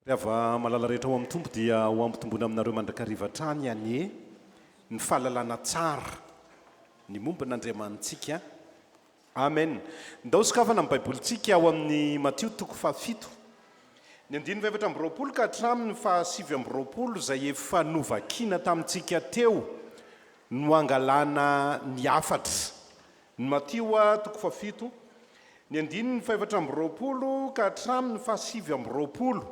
Ry havana malala rehetra ao amin'ny Tompo dia ho hampitombona aminareo mandrakariva hatrany anie ny fahalalana tsara ny momba an'Andriamanitsika. Amen. Ndao sokafana ny Baibolintsika ao amin'ny Matio toko fahafito, ny andininy fahefatra amby roapolo ka hatramin'ny fahasivy amby roapolo izay efa novakina tamintsika teo no hangalana ny hafatra. Ny Matio toko fahafito, ny andininy fahefatra amby roapolo ka hatramin'ny fahasivy amby roapolo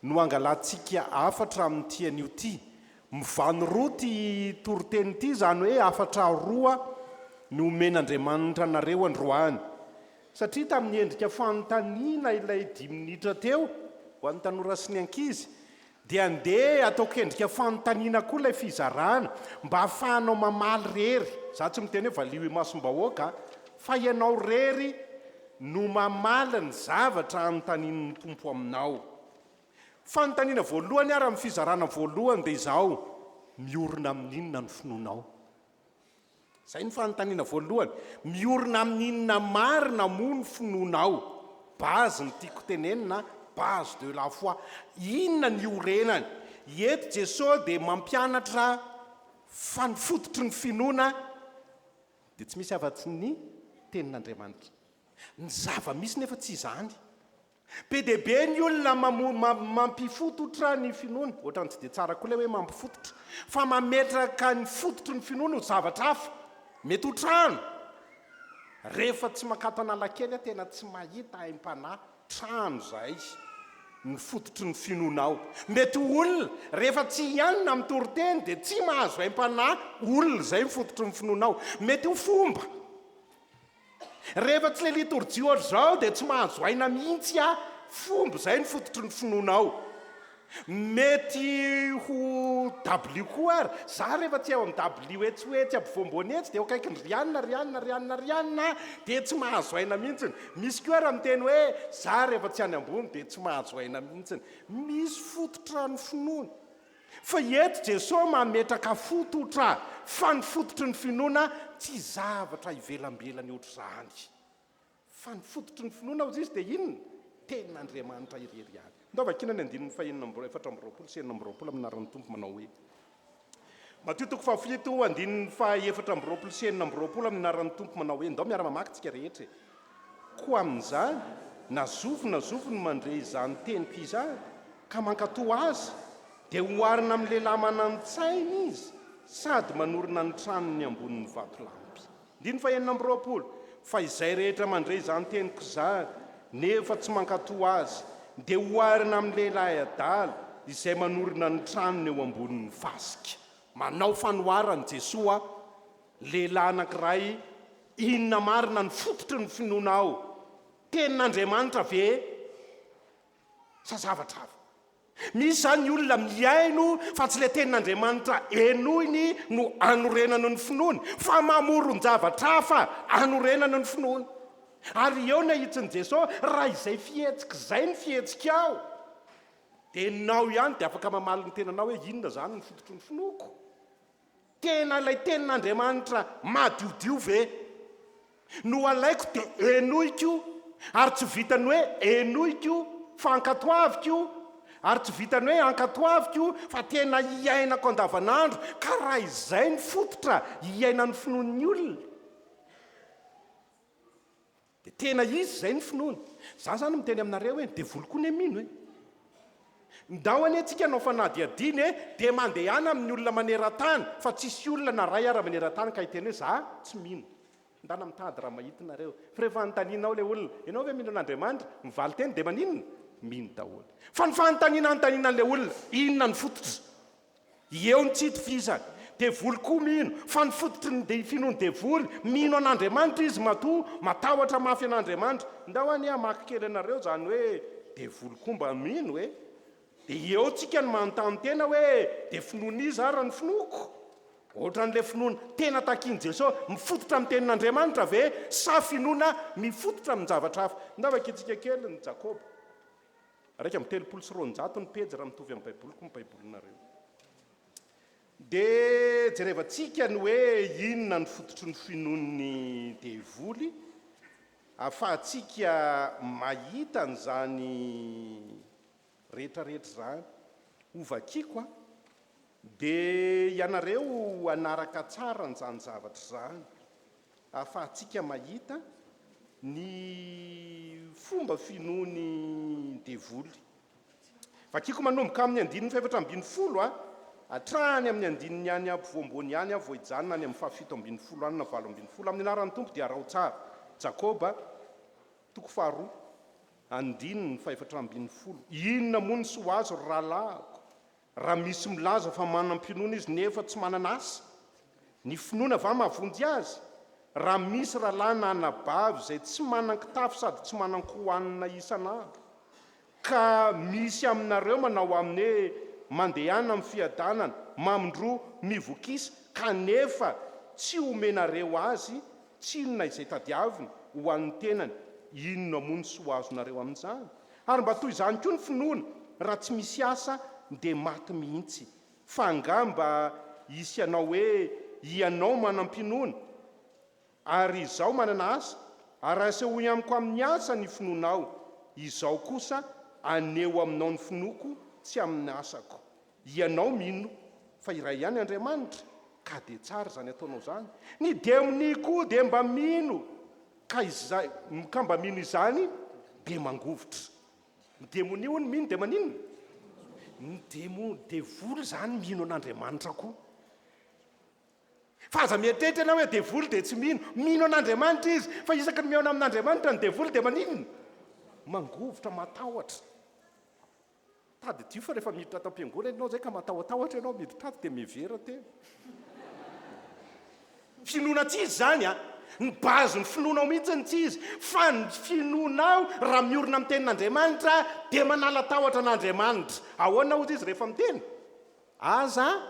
no hangalantsika hafatra amin'ity anio ity Mivano roa ity toriteny ity, izany hoe hafatra roa no omen'Andriamanitra anareo androany. Satria tamin'ny endrika fanontaniana ilay dimy minitra teo, ho an'ny tanora sy ny ankizy, dia andeha ataoko endrika fanontaniana koa ilay fizarana, mba hahafahanao mamaly irery. Izaho tsy miteny hoe valio imasom-bahoaka an, fa ianao irery no mamaly ny zavatra anontanian'ny Tompo aminao. Fanontaniana voalohany ary amin'ny fizarana voalohany dia izao, Miorina amin'inona ny finoanao? Izay ny fanontaniana voalohany. Miorina amin'inona marina moa ny finoanao? Base ny tiako tenenina, base de la foi. Inona ny iorenany? Eto Jesosy dia mampianatra fa ny fototry ny finoana dia tsy misy afa-tsy ny Tenin'Andriamanitra. Ny zava-misy nefa tsy izany. Be dia be ny olona mampifototra ny finoany, ohatrany tsy dia tsara koa ilay hoe mampifototra, fa mametraka ny fototry ny finoany ho zavatra hafa. Mety ho trano. Rehefa tsy mankato Analakely aho tena tsy mahita aim-panahy, trano izay no fototry ny finoanao. Mety ho olona, rehefa tsy hianina amin'ny toriteny dia tsy mahazo aim-panahy, olona izay ny fototry ny finoanao. Mety ho fomba, Rehefa tsy le litorjia ohatr'izao dia tsy mahazo aina mihitsy aho, fomba izay ny fototry ny finoana ao. Mety ho dabilio koa ary, za rehefa tsy ao amin'ny dabilio etsy ho etsy ampovoam-boany etsy dia eo akaikin'i Rianina, Rianina, Rianina, Rianina dia tsy mahazo aina mihitsiny. Misy koa ary miteny hoe za rehefa tsy any ambony dia tsy mahazo aina mihitsiny. Misy fototra ny finoana. Fa eto Jesosy mametraka fototra, fa ny fototry ny finoana tsy zavatra ivelambelany ohatr'izany. Fa ny fototry ny finoana hozy izy dia inona? Tenin'Andriamanitra irery ihany. Ndao vakiana ny andininy fahenina amby efatra amby roapolo sy enina amby roapolo amin'ny anaran'ny Tompo manao hoe. Matio toko fahafito andininy faha efatra amby roapolo sy enina amby roapolo amin'ny anaran'ny Tompo manao hoe, ndao miara-mamaky tsika rehetra e. Koa amin'izany, na zovy na zovy no mandre izany teniko izany, ka mankatò azy, dia oharina amin'ny lehilahy manan-tsaina izy, sady manorina ny tranony ambonin'ny vatolampy. Andininy fahenina amby roapolo, Fa izay rehetra mandre izany teniko izany, nefa tsy mankatò azy, dia oharina amin'ny lehilahy adala, izay manorina ny tranony eo ambonin'ny fasika. Manao fanoharana i Jesoa Lehilahy anankiray, Inona marina no fototry ny finoana ao? Tenin'Andriamanitra ve sa zavatra hafa? Misy izany olona mihaino fa tsy ilay tenin'Andriamanitra henoiny no anorenany ny finoany, fa mamoron-javatra hafa anorenany ny finoany. Ary eo ny ahitsin'i Jesosy, Raha izay fihetsika izay no fihetsikao, dia ianao ihany dia afaka mamaly ny tenanao hoe, Inona izany no fototry ny finoako? Tena ilay Tenin'Andriamanitra madiodio ve no alaiko dia henoiko ary tsy vitan'ny hoe henoiko fa ankatoaviko ary tsy vitan'ny hoe ankatoaviko fa tena hiainako andavanandro ka raha izay ny fototra hiainan'ny finoan'ny olona Dia tena izy izay ny finoany. Izaho izany miteny aminareo hoe ny devoly koa anie mino e! Ndao anie tsika hanao fanadihadiana e! Dia mandehana amin'ny olona maneran-tany fa tsisy olona na ray ara maneran-tany ka hiteny hoe za tsy mino. Ndana mitady raha mahita nareo. Fa rehefa anontanianao ilay olona, ianao ve mino an'Andriamanitra? Ny valin-teny dia maninona? Mino daholo. Fa ny fanontaniana anontaniana an'ilay olona, inona no fototra? Eo ny tsy itovizany. Devoly koa mino fa ny fototry ny dia finoan'ny devoly, mino an'Andriamanitra izy matoa matahotra mafy an'Andriamanitra. Ndao anie hamaky kely anareo izany hoe devoly koa mba mino e! Dia eo tsika ny manontany tena hoe dia finoan'iza ary ny finoako? Ohatran'ilay finoana tena takian'i Jeso mifototra amin'ny tenin'Andriamanitra ve sa finoana mifototra amin-javatra hafa? Ndao vakintsika kely ny Jakoba. Iraika amby telopolo sy roanjato ny pejy raha mitovy amin'ny Baiboliko ny Baibolinareo. Dia jerevantsika ny hoe inona ny fototry ny finoan'ny devoly ahafahantsika mahita an'izany rehetrarehetra izany. Hovakiko an! Dia ianareo hanaraka tsara an'izany zavatra izany. Ahafahantsika mahita ny fomba finoan'ny devoly. Vakiko manomboka amin'ny andininy fahefatra ambin'ny folo hatrany amin'ny andininy any ampovoamboany ihany aho vao hijanona any amin'ny fahafito ambin'ny folo any na valo ambin'ny folo. Amin'ny anaran'ny Tompo dia araho tsara. Jakoba, toko faharoa, andininy fahefatra ambin'ny folo. Inona moa ny soa azo ry rahalahiko? Raha misy milaza fa manam-pinoana izy nefa tsy manana asa, ny finoana va mahavonjy azy? Raha misy rahalahy na anabavy izay tsy manan-kitafy sady tsy manan-ko hohanina isan'andro, ka misy aminareo manao aminy hoe, Mandehana amin'ny fiadanana, mamindroa, mivokisa, kanefa tsy omenareo azy tsy inona izay tadiaviny ho an'ny tenany, inona moa ny soa azonareo amin'izany? Ary mba toy izany koa ny finoana, raha tsy misy asa dia maty mihitsy. Fa angaha mba hisy hanao hoe, Hianao manam-pinoana, ary izaho manana asa? Ary asehoy amiko amin'ny asa ny finoanao, izaho kosa haneho aminao ny finoako tsy amin'ny asako. Ianao mino fa iray ihany Andriamanitra ka dia tsara izany ataonao izany. Ny demony koa dia mba mino ka izay ka mba mino izany dia mangovitra. Ny demonia hono mino dia maninona? Ny demo, devoly izany mino an'Andriamanitra koa. Fa aza mieritreritra ianao hoe devoly dia tsy mino. Mino an'Andriamanitra izy fa isaky ny mihaona amin'Andriamanitra ny devoly dia maninona? Mangovitra, matahotra. Tadidio fa rehefa miditra ato am-piangonana ianao izay ka matahotahotra ianao miditra ato dia mihevera tena. Finoana tsy izy izany an! Ny base ny finoanao mihitsy no tsy izy fa ny finoanao raha miorina amin'ny tenin'Andriamanitra dia manala tahotra an'Andriamanitra. Ahoana hozy izy rehefa miteny? Aza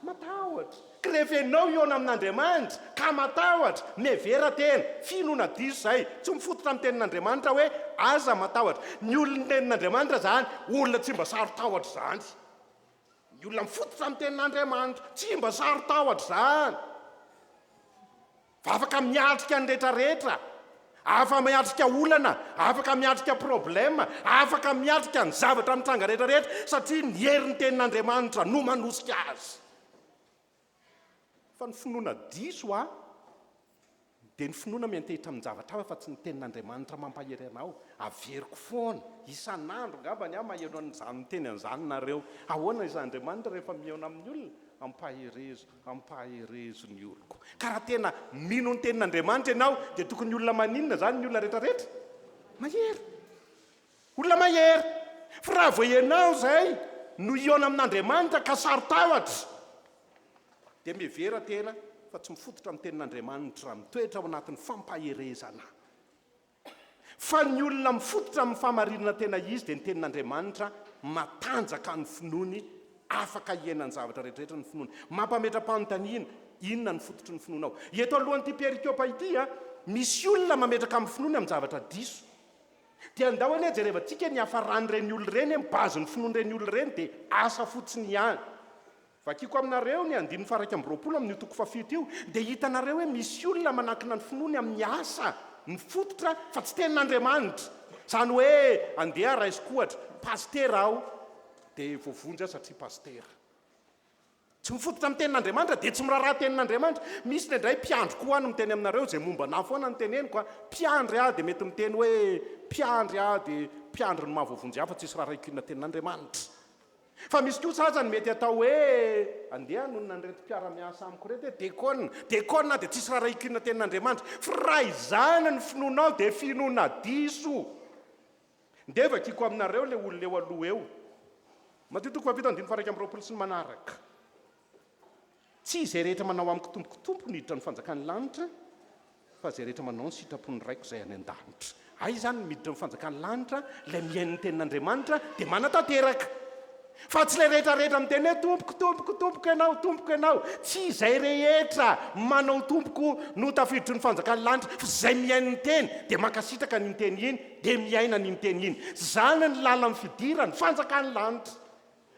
matahotra. Krevenao hihaona amin'Andriamanitra, ka matahotra, mihevera tena, fino na diso izay, tsy mifototra amin'ny Tenin'Andriamanitra hoe aza matahotra. Ny olon'ny Tenin'Andriamanitra izany, olona tsy mba saro-tahotra izany. Ny olona mifototra amin'ny Tenin'Andriamanitra, tsy mba saro-tahotra izany. Afaka miatrika ny rehetra rehetra, afaka miatrika olana, afaka miatrika problème, afaka miatrika ny zavatra mitranga rehetra rehetra satria ny herin'ny tenin'Andriamanitra no manosika azy. Fa ny finoana diso an, dia ny finoana miantehitra amin'ny zavatra hafa fa tsy ny tenin'Andriamanitra mampahery anao. Averiko foana, isan'andro angambany aho maheno an'izany miteny an'izany nareo. Ahoana izany Andriamanitra rehefa mihaona amin'ny olona? Ampaherezo. Hampaherezo ny oloko. Ka raha tena mino ny tenin'Andriamanitra ianao dia tokony olona maninona izany ny olona rehetrarehetra? Mahery. Olona mahery. Fa raha vao ianao izay no hihaona amin'Andriamanitra ka saro-tahotra dia mihevera tena fa tsy mifototra amin'ny tenin'Andriamanitra raha mitoetra ao anatin'ny fampaherezana. Fa ny olona mifototra amin'ny fahamarinana tena izy dia ny Tenin'Andriamanitra, matanjaka ny finoany, afaka hiaina ny zavatra rehetrarehetra ny finoany. Mampametra-panontaniana, Inona no fototry ny finoanao? Eto alohan'ity perikopa ity, misy olona mametraka ny finoany amin'ny zavatra diso. Dia andao anie jerevantsika ny hiafaran'ireny olona ireny, ny base-n'ny finoan'ireny olona ireny dia asa fotsiny ihany. Vakiko aminareo ny andininy faha-iraika amby roapolo amin'io toko fahafito io, dia hitanareo hoe misy olona manankina ny finoany amin'ny asa mifototra fa tsy tenin'Andriamanitra. Izany hoe andeha raisiko ohatra, pasitera aho dia voavonjy aho satria pasitera. Tsy mifototra amin'ny tenin'Andriamanitra dia tsy miraharaha tenin'Andriamanitra. Misy indraindray mpiandry koa no miteny aminareo izay momba anah foana no teneniko a! Mpiandry aho dia mety miteny hoe mpiandry aho dia mpiandry ny maha-voavonjy ahy fa tsisy raharahiako inona tenin'Andriamanitra. Fa misy kosa aza ny mety atao hoe, andeha hanonona an'ireto mpiara-miasa amiko ireto hoe dekona, dekona aho dia tsisy raharahiako inona tenin'Andriamanitra. Fa raha izany ny finoanao dia finoana diso. Ndeha vakiako aminareo ilay olona eo aloha eo. Matio toko fahavalo andininy faha iraika amby roapolo sy ny manaraka. Tsy izay rehetra manao amiko tompokotompo no hiditra ny fanjakan'ny lanitra, fa izay rehetra manao ny sitrapon'ny Raiko izay any an-danitra. Hay izany ny miditra ny fanjakan'ny lanitra, ilay mihaino ny tenin'Andriamanitra dia manatanteraka. Fa tsy ilay rehetrarehetra miteny hoe tompoko, tompoko, tompoko ianao, tompoko ianao. Tsy izay rehetra manao tompoko no tafiditry ny fanjakan'ny lanitra, fa izay mihaino ny teny, dia mankasitraka an'iny teny iny, dia miaina an'iny teny iny. Izany ny lalan'ny fidiran'ny fanjakan'ny lanitra.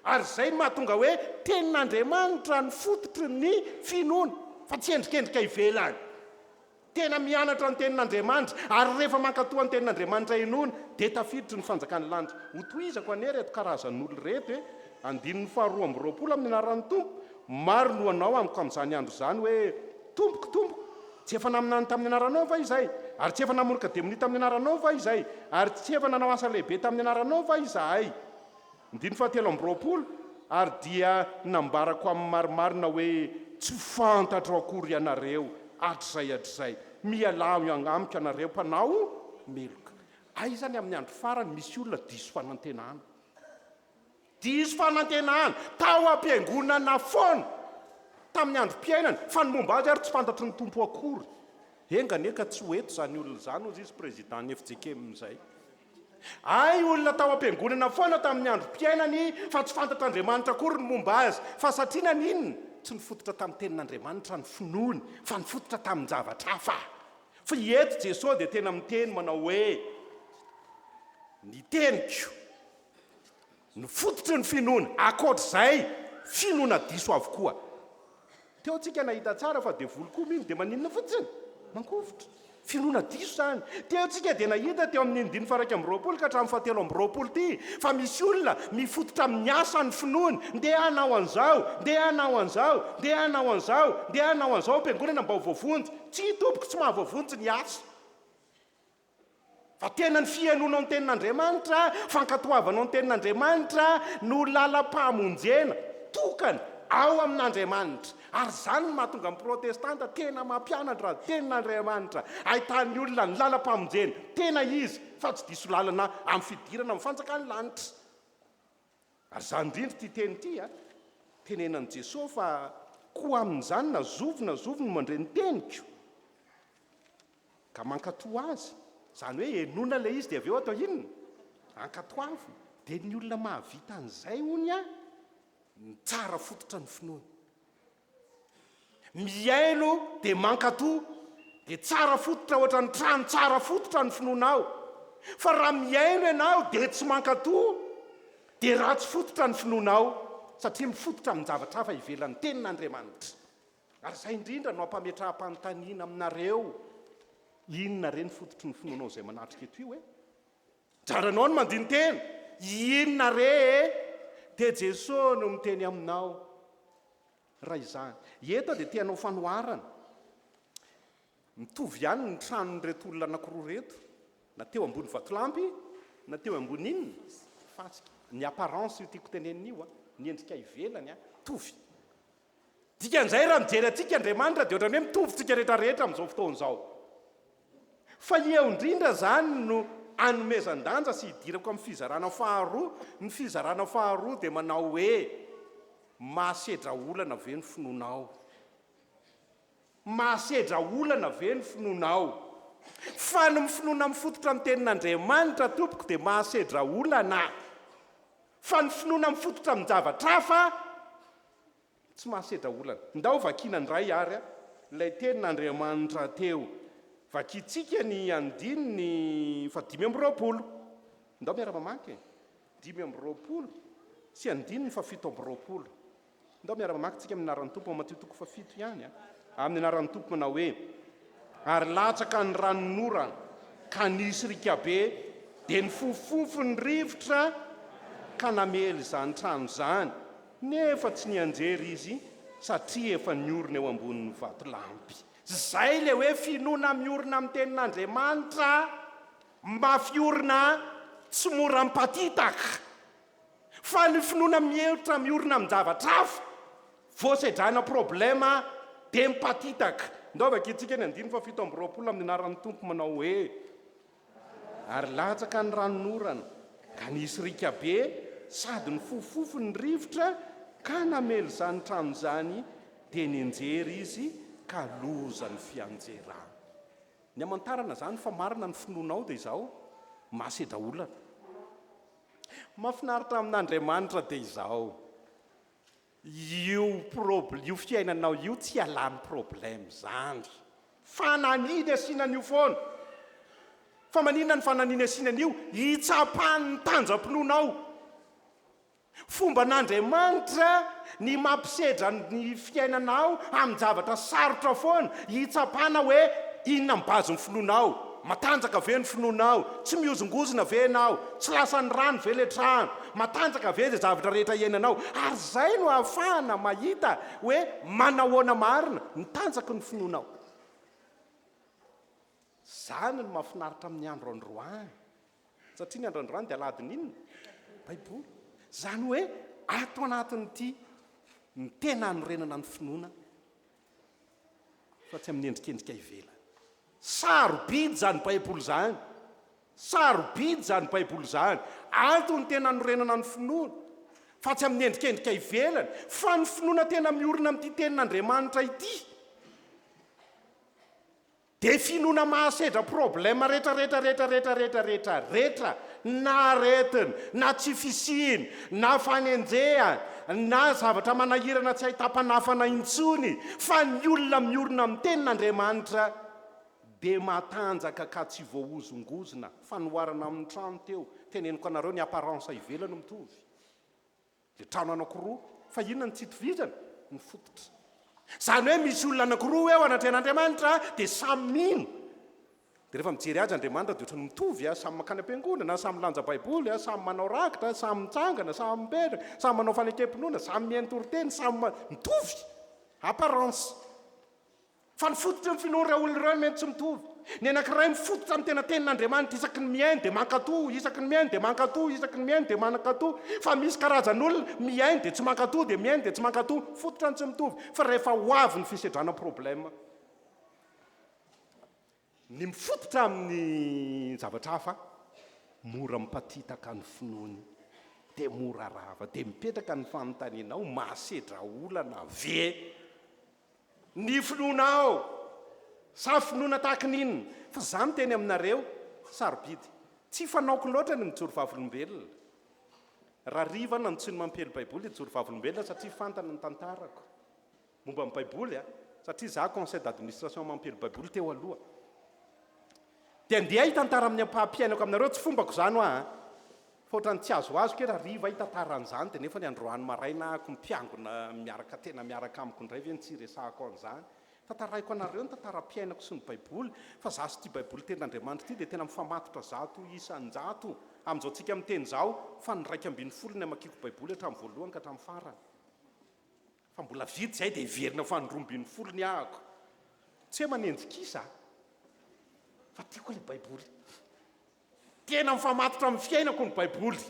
Ary izay no mahatonga hoe Tenin'Andriamanitra no fototry ny finoana, fa tsy endrikendrika ivelany. Tena mianatra ny Tenin'Andriamanitra, ary rehefa mankatoa ny Tenin'Andriamanitra inoana, dia tafiditry ny fanjakan'ny lanitra. Hotohizako anie ireto karazan'olona ireto e! Andininy faharoa amby roapolo amin'ny anaran'ny Tompo, Maro no hanao amiko amin'izany andro izany hoe, Tompoko, Tompoko, tsy efa naminany tamin'ny anaranao va izay? Ary tsy efa namoroka demonia tamin'ny anaranao va izay? Ary tsy efa nanao asa lehibe tamin'ny anaranao va izahay? Andininy fahatelo amby roapolo, Ary dia nambarako amin'ny marimarina hoe, Tsy fantatro akory ianareo, hatrizay hatrizay. Mialà avy amiko ianareo mpanao meloka. Aiza ny amin'ny andro farany misy olona diso fanantenana? Diso fanantenana, tao am-piangonana foana, tamin'ny androm-piainany, fa ny momba azy ary tsy fantatry ny Tompo akory. Enga anie ka tsy ho eto izany olona izany, hoy izy, Prezidàn'ny FJKM izay. Hay olona tao am-piangonana foana tamin'ny androm-piainany fa tsy fantatr'Andriamanitra akory ny momba azy. Fa satria naninona? Tsy nifototra tamin'ny tenin'Andriamanitra ny finoany fa nifototra tamin-javatra hafa. Fa i eto Jesoa dia tena miteny manao hoe, Ny teniko Ny fototry ny finoana, ankoatra izay, finoana diso avokoa. Teo tsika nahita tsara fa devoly koa mino, dia maninona fotsiny? Mangovitra. Finoana diso izany. Teo tsika dia nahita teo amin'iny dimy faha iraika amby roapolo ka hatramin'ny fahatelo amby roapolo ity, fa misy olona mifototra amin'ny asa ny finoany, ndeha hanao an'izao, ndeha hanao an'izao, ndeha hanao an'izao, ndeha hanao an'izao am-piangonana mba ho voavonjy. Tsia, tompoko, tsy mahavoavonjy ny asa. Fa tena ny fihenoanao ny tenin'Andriamanitra, fankatoavanao ny tenin'Andriamanitra no lalam-pahamonjena tokana ao amin'Andriamanitra. Ary izany no mahatonga ny protestanta tena mampianatra ny tenin'Andriamanitra, ahitan'ny olona ny lalam-pahamonjena tena izy, fa tsy diso lalana amin'ny fidirana amin'ny fanjakan'ny lanitra. Ary izany indrindra ity teny ity a! Tenenan'i Jesoa fa koa amin'izany na zovy na zovy no mandre ny teniko ka mankatò azy, izany hoe henoina ilay izy dia avy eo atao inona? Ankatoavina. Dia ny olona mahavita an'izay hono a! Ny tsara fototra ny finoana. Mihaino dia mankatò, dia tsara fototra ohatran'ny trano tsara fototra ny finoanao. Fa raha mihaino ianao dia tsy mankatò, dia ratsy fototra ny finoanao, satria mifototra amin-javatra hafa ivelan'ny Tenin'Andriamanitra. Ary izay indrindra no ampametraham-panontaniana aminareo, Inona re ny fototry ny finoanao izay manatrika eto io e? Jaranao ny mandini-tena, inona re e? Dia Jesoa no miteny aminao, raha izany. Eto dia te hanao fanoharana, mitovy ihany ny tranon'ireto olona anankiroa ireto, na teo ambony vatolampy, na teo ambony inona? Fasika. Ny apparence io tiako tenenina io, ny endrika ivelany, mitovy. Dikan'izay raha mijery antsika Andriamanitra dia ohatran'ny hoe mitovy tsika rehetra rehetra amin'izao fotoana izao. Fa eo indrindra izany no anomezan-danja sy idirako amin'ny fizarana faharoa, ny fizarana faharoa dia manao hoe mahasedra olana ve ny finoanao? Mahasedra olana ve ny finoanao? Fa ny finoana mifototra amin'ny tenin'Andriamanitra tompoko dia mahasedra olana, fa ny finoana mifototra amin-javatra hafa Tsy mahasedra olana. Ndao vakiana ndray ary ilay tenin'Andriamanitra teo. Vakintsika ny andininy fahadimy amby roapolo. Ndao miara-mamaky e. Dimy amby roapolo sy andininy fahafito amby roapolo. Ndao miara-mamaky tsika amin'ny anaran'ny Tompo ao Matio toko fahafito ihany a. Amin'ny anaran'ny Tompo manao hoe, Ary latsaka ny ranon'ora ka nisy riaka be, dia nifofofofo ny rivotra ka namely izany trano izany. Nefa tsy nianjera izy satria efa niorina eo ambonin'ny vatolampy. Zay le hoe finoana miorina amin'ny tenin'Andriamanitra mafy orina tsy mora mipatitaka. Fa ny finoana mihevitra miorina amin-javatra hafa vao sedraina problema dia mipatitaka. Ndao vakintsika ny andininy fahafito amby roapolo amin'ny anaran'ny Tompo manao hoe. Ary latsaka ny ranon'orana, ka nisy riaka be, sady nifofofofo ny rivotra, ka namely izany trano izany, dia nianjera izy, ka loza ny fianjerany. Ny hamantarana izany fa marina ny finoanao dia izao, masedra olana. Mahafinaritra amin'Andriamanitra dia izao. Io probl io fiainanao io tsy ialany problème zany. Fananiny asiana an'io foana. Fa maninona ny fananiny asiana an'io? Hitsapan'ny tanjam-pinoanao. Fomban'Andriamanitra ny mampisedra ny fiainanao amin-javatra sarotra foana hitsapana hoe inona ny base-n'ny finoanao. Matanjaka ve ny finoanao? Tsy mihozongozona ve ianao? Tsy lasan'ny rano ve le trano? Matanjaka ve izay zavatra rehetra iainanao? Ary izay no ahafahana mahita hoe manahoana marina ny tanjaky ny finoanao. Izany no mahafinaritra amin'ny andro androany, satria ny andro androany dia aladin'ny inona? Baiboly. Izany hoe ato anatin'ity ny tena hanorenana ny finoana fa tsy amin'ny endrikendrika ivelany. Sarobidy izany Baiboly izany. Sarobidy izany Baiboly izany. Antony tena anorenana ny finoana, fa tsy amin'ny endrikendrika ivelany, fa ny finoana tena miorina amin'ity Tenin'Andriamanitra ity. Dia finoana mahasedra problème rehetra rehetra rehetra rehetra rehetra rehetra rehetra na aretiny na tsy fisiany na fanenjehany na zavatra manahirana tsy ahitam-panafana intsony fa ny olona miorina amin'ny tenin'Andriamanitra dia matanjaka ka tsy voahozongozona, fanoharana amin'ny trano teo, teneniko anareo ny apparence ivelany mitovy. Dia trano anankiroa, fa inona no tsy itovizana? Ny fototra. Izany hoe misy olona anankiroa eo anatrehan'Andriamanitra, dia samy mino. Dia rehefa mijery azy Andriamanitra dia ohatran'ny mitovy, samy mankany am-piangonana, samy milanja Baiboly, samy manao rakitra, samy mitsangana, samy mipetraka, samy manao fanekem-pinoana, samy mihaino toriteny, samy mitovy, apparence. Fa ny fototry ny finoan'ireo olona ireo mety tsy mitovy. Ny anankiray mifototra amin'ny tena Tenin'Andriamanitra isaky ny mihaino dia mankatò, isaky ny mihaino dia mankatò, isaky ny mihaino dia mankatò. Fa misy karazan'olona, mihaino dia tsy mankatò, dia mihaino dia tsy mankatò. Fototra no tsy mitovy. Fa rehefa ho avy ny fisedrana problème. Ny mifototra amin'ny zavatra hafa mora mipatitaka ny finoany dia mora rava. Dia mipetraka ny fanontaniana ao, mahasedra olana ve ny finoanao? Sa finoana tahaka ny inona? Fa izaho miteny aminareo, sarobidy. Tsy fanaoko loatra ny mijoro vavolombelona. Raha riva aho na ny tsy ny mampely Baiboly hijoro vavolombelona satria fantany ny tantarako. Momba ny baiboly a! Satria za conseil d'administration mampely baiboly teo aloha. Dia ndeha hitantara amin'ny ampahampiainako aminareo, tsy fombako izany hoa a! Fa ohatran'ny tsy azoazoko hoe rahariva hitantara an'izany dia nefa ny androany maraina ako mpiangona miaraka tena miaraka amiko indray ve no tsy hiresahako an'izany? Tantaraiko anareo ny tantaram-piainako sy ny baiboly fa za sy ity baiboly tenin'Andriamanitra ity dia tena mifamatotra zato isan-jato amin'izao tsika miteny izao fa ny iraika ambin'ny folo ny amakiako baiboly hatramin'ny voalohany ka hatramin'ny farany. Fa mbola vitsy izay dia hiverina ho fanin'ny roa ambin'ny folo ny ahako. Tsy hoe manenjika kisa aho, fa tiako ilay Baiboly. Tena mifamatotra amin'ny fiainako ny Baiboly.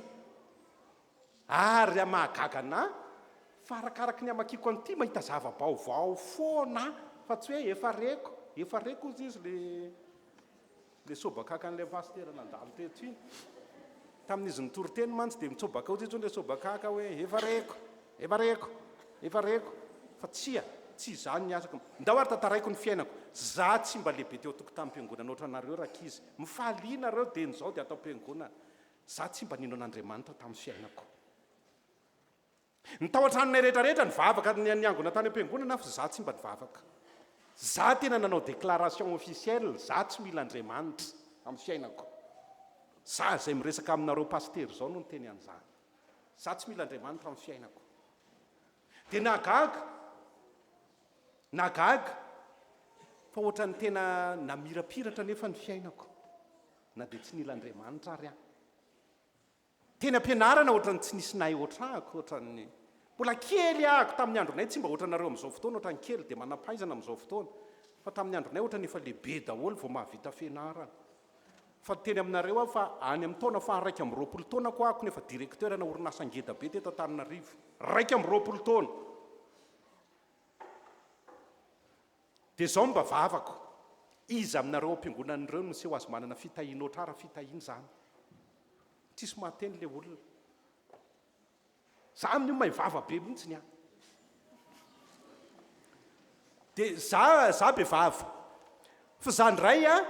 Ary raha mahagaga anà, fa arakaraka ny hamakiako an'ity, mahita zava-baovao foana aho, fa tsy hoe efa reko, efa reko hozy izy ilay. Ilay sobakakan'ilay pasitera nandalo teto iny, tamin'izy nitory teny mantsy dia mitsobaka ao teto ilay sobakaka hoe efa reko, efa reko, efa reko, fa tsia, tsy izany ny asako, ndao ary tantaraiko ny fiainako, za tsy mba lehibe teo an-tokotanim-piangonana ohatranareo rankizy, mifalia nareo dia ny zao dia ato am-piangonana, za tsy mba nino an'Andriamanitra tamin'ny fiainako. Ny tao an-tranonay rehetra rehetra nivavaka, ny niangona tany am-piangonana aho fa za tsy mba nivavaka. Za tena nanao déclaration officielle za tsy mila Andriamanitra amin'ny fiainako. Za izay miresaka aminareo pasitera izao no niteny an'izany. Za tsy mila Andriamanitra amin'ny fiainako. Dia nahagaga, nahagaga fa ohatran'ny tena namirapiratra anefa ny fiainako na dia tsy nila Andriamanitra ary aho. Teny ampianarana otrany tsy nisy nahay otrako otrany mbola kely ahako taminy andronay tsy mba otranareo amizao fotoana otrany kely de manampahaizana amizao fotoana fa taminy andronay otrany efa lehibe daholo vao mahavita fianarana fa teny aminareo aho fa any aminy taona faha raika amby roapolo taonako ahako no efa directeur ana orinasa ngeda be teto antananarivo raika amby roapolo taona Dia izao mba vavako, iza aminareo ao am-piangonana ireo no miseho azy manana fitahiana ohatrara fitahiana izany? Tsisy mahateny ilay olona. Za amin'io mahay vava be mihitsy ny ahy. Dia za, za be vava. Fa za indray an,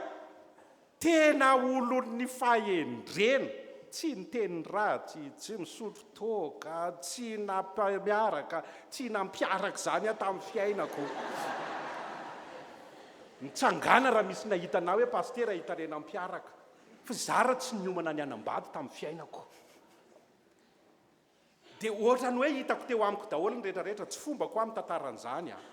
Tena olon'ny fahendrena, tsy niteny ratsy, tsy nisotro toaka, tsy nampiaraka, tsy nampiaraka izany aho tamin'ny fiainako. Mitsangàna raha misy nahita anà hoe pasitera hitarena ampiaraka. Fa za raha tsy niomana ny hanambady tamin'ny fiainako. Dia ohatran'ny hoe hitako teo amiko daholo ny rehetra rehetra, tsy fombako aho mitantaran'izany an.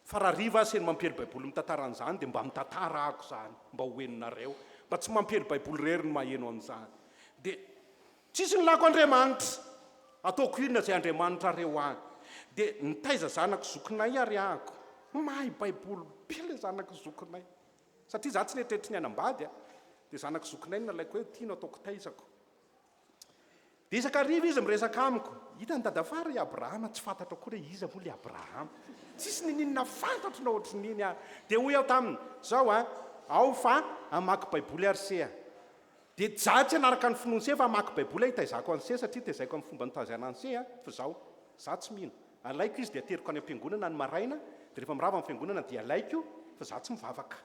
Fa raha Riva aza eny mampiely baiboly mitantara an'izany dia mba mitantara ako izany mba ho henonareo mba tsy mampiely baiboly irery no maheno an'izany dia tsisy ny lako Andriamanitra ataoko inona izay Andriamanitrareo ahy dia nitaiza zanako zokinay ary ako mahay baiboly be ilay zanako zokinay satria za tsy neritreritry ny hanambady dia zanako zokinay no nalaiko hoe ity no ataoko taizako Betsaka hariva izy miresaka amiko. Hitan'i Dadafara i Abrahama, tsy fantatro akory hoe iza moa ilay Abrahama. Tsisy nininona fantatro na ohatrin'iny aho. Dia hoy aho taminy, Izao an, ao fa hamaky Baiboly ary se a. Dia jattsy hanaraka ny finoany se fa hamaky Baiboly aho hitaizako an'i se satria tezaiko amin'ny fomba nitaizana an'i se a. Fa izao, izaho tsy mino. Alaiko izy dia ateriko any am-piangonana ny maraina, dia rehefa mirava amin'ny fiangonana dia alaiko fa izaho tsy mivavaka.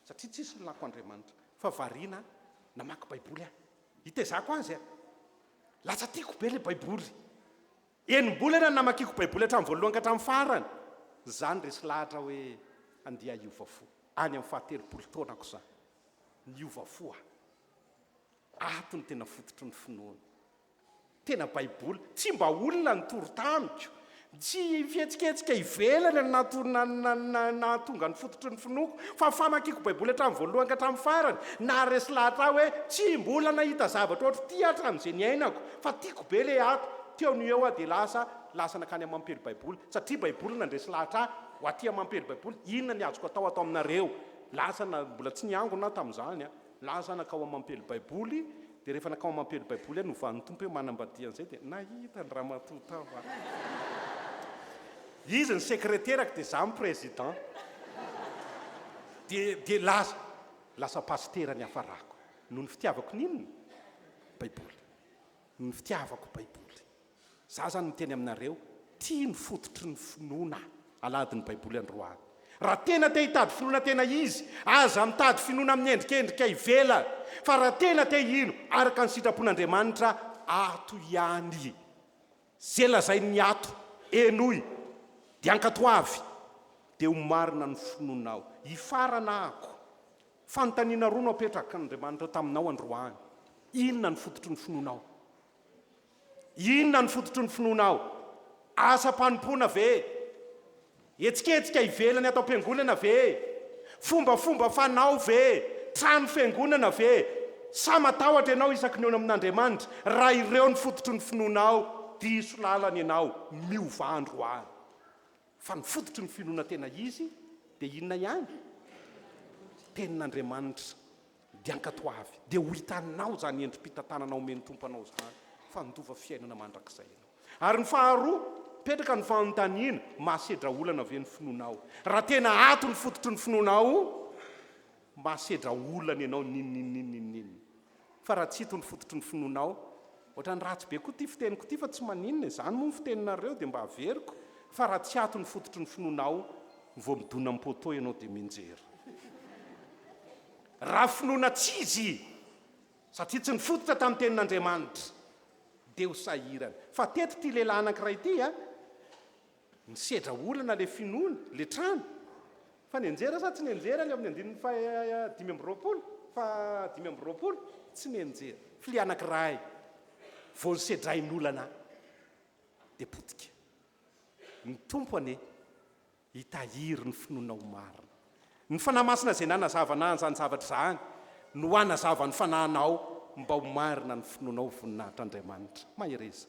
satria tsisy ny lako Andriamanitra fa variana namaky baiboly aho hitezako azy a! lasa tiako be le baiboly enimbolana ny namakiako baiboly hatramin'ny voalohany ka hatramin'ny farany zany resy lahatra hoe andeha hiova fo any amin'ny fahatelopolo taonako zany niova fo aho ato ny tena fototry ny finoana Tena baiboly. Tsy mba olona nitory tamiko. Tsy fihetsiketsika ivelany no nahatonga ny fototry ny finoako, fa famakiako baiboly hatramin'ny voalohany ka hatramin'ny farany. Naharesy lahatra ahy hoe tsy mbola nahita zavatra ohatry ity aho hatramin'izay niainako. Fa tiako be ilay ato. Teo no eo aho dia lasa lasa nankany amin'ny mampiely baiboly, satria baiboly no nandresy lahatra ahy. Ho aty amin'ny mampiely baiboly, inona ny azoko atao ato aminareo? Lasa mbola tsy niangona aho tamin'izany. Na za nakao amampely baiboly dia rehefa nakao amampely baiboly aho novan'ny Tompo hoe manambadia an'izay dia nahita ny ramatoa tao aho. Izy ny sekreterako dia za ny président. Dia dia lasa lasa pasitera niafarako. Noho ny fitiavako ny inona? Baiboly. Noho ny fitiavako baiboly. Za zany miteny aminareo, ty no fototry ny finoana alahady ny baiboly androany. Raha tena te hitady finoana tena izy, aza mitady finoana amin'ny endrikendrika ivelany, fa raha tena te hino araka ny sitrapon'Andriamanitra, ato ihany. Ze lazain'ny ato, henoy, de ankatoavy, de ho marina ny finoanao. Hifarana ako. Fanontaniana roa no apetrakan'Andriamanitra taminao androany, inona no fototry ny finoanao? Inona no fototry ny finoanao? Asam-panompoana ve? Hetsiketsika ivelany ato am-piangonana ve? Fombafomba fanao ve? Trano fiangonana ve? Sa matahotra ianao isaky ny eo amin'Andriamanitra? Raha ireo no fototry ny finoanao, diso lalana ianao, miova andro any. Fa ny fototry ny finoana tena izy dia inona ihany? Tenin'Andriamanitra. Dia ankatoavy, dia ho hitanao izany endri-pitantanana omen'ny Tompo anao izany, fa handova fiainana mandrakizay ianao. Ary ny faharoa, mipetraka ny fanontaniana, mahasedra olana ve ny finoanao? Raha tena ato ny fototry ny finoanao, mahasedra olana ianao ninoninona ninoninona. Fa raha tsy ito ny fototry ny finoanao, Otrany ratsy be koa ty fiteniko ty fa tsy maninona e, zany moa ny fiteninareo dia mba averiko fa raha tsy ato ny fototry ny finoanao vao midona am poteau ianao dia mianjera raha finoana tsy izy satria tsy nifototra tam tenin Andriamanitra dia ho sahirana fa teto ty lehilahy anakiray ty a Nisedra olana le finoana, le trano. Fa nianjera sa tsy nianjera ny ao amin'ny andininy faha dimy amby roapolo? Faha dimy amby roapolo? Tsy nianjera. Filia anankiray vao nosedrain'olana dia potika. Ny Tompo anie hitahiry ny finoana ho marina. Ny Fanahy Masina izay nanazava na an'izany zavatra izany no hanazava ny fanahinao mba ho marina ny finoanao voninahitr'Andriamanitra. Mahereza.